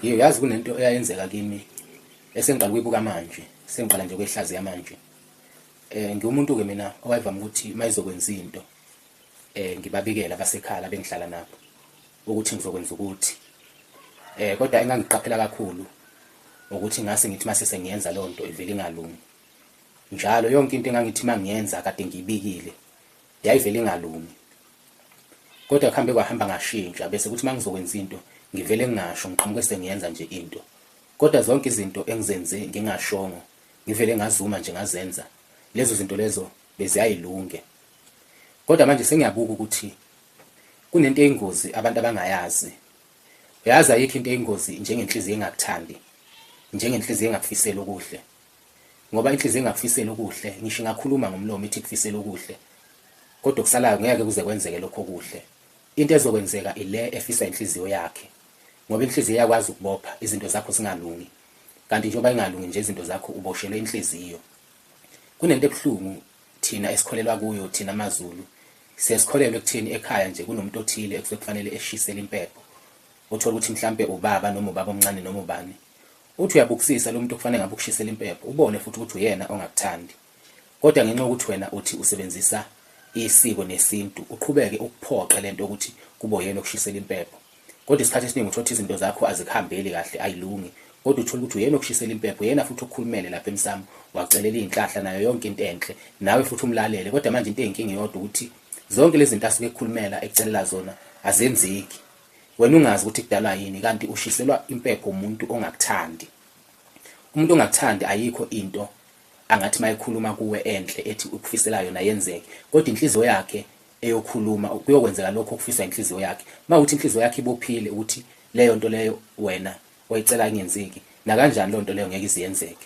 Yebo yazi kunento eyayenzeka kimi esengiqala ukuyibuka manje, sengiqala nje ukwehlaziya manje. Eh ngiwumuntu-ke mina owayevama ukuthi uma izokwenza into eh ngibabikele abasekhaya bengihlala nabo ukuthi ngizokwenza ukuthi. Eh kodwa engangiqaphela kakhulu ukuthi ngase ngithi mase sengiyenza leyo nto ivele ingalungi. Njalo yonke into engangithi mangiyenza kade ngiyibikile Yayivele ingalungi. Kodwa kuhambe kwahamba ngashintsha bese kuthi mangizokwenza into ngivele ngingasho ngiqhamuke sengiyenza nje into. Kodwa zonke izinto engizenze ngingashongo ngivele ngazuma nje ngazenza lezo zinto lezo beziyayilunge. Kodwa manje sengiyabuka ukuthi kunento eyingozi abantu abangayazi. Uyazi ayikho into eyingozi njengenhliziyo engakuthandi, njengenhliziyo engakufiseli okuhle. ngoba inhliziyo ingakufiseli okuhle ngisho ingakhuluma ngomlomo ithi kufisela okuhle kodwa okusalayo ngeke kuze kwenzeke lokho okuhle into ezokwenzeka ile efisa inhliziyo yakhe ngoba inhliziyo yakwazi ukubopha izinto zakho zingalungi kanti njengoba ingalungi nje izinto zakho uboshelwe inhliziyo kunento ebuhlungu thina esikholelwa kuyo thina amaZulu sesikholelwe kuthini ekhaya nje kunomuntu othile ekufanele eshisele impepho uthola ukuthi mhlambe ubaba noma ubaba omncane noma ubani Uthi uyabukisisa lomuntu okufanele ngabe ukushisela impepho ubone futhi ukuthi uyena ongakuthandi. Kodwa ngenxa yokuthi wena uthi usebenzisa isiko nesintu uqhubeke ukuphoqe lento ukuthi kube uyena okushisela impepho. Kodwa isikhathi esiningi uthola ukuthi izinto zakho azikuhambeli kahle ayilungi kodwa uthole ukuthi uyena okushisela impepho uyena futhi okhulumele lapha emsamo wakucelela izinhlahla nayo yonke into enhle nawe futhi umlalele kodwa manje into eyinkinga iyodwa ukuthi zonke lezi zinto asuke ekhulumela ekucelela zona azenzeki Wena ungazi ukuthi kudalwa yini kanti ushiselwa impepho umuntu ongakuthandi. Umuntu ongakuthandi ayikho into angathi mayekhuluma kuwe enhle ethi ukufisela yona yenzeke kodwa inhliziyo yakhe eyokhuluma kuyokwenzeka lokho okufiswa inhliziyo yakhe. Mawuthi inhliziyo yakhe ibophile ukuthi leyo nto leyo wena oyicela ingenzeki nakanjani leyo nto leyo ngeke iziyenzeke.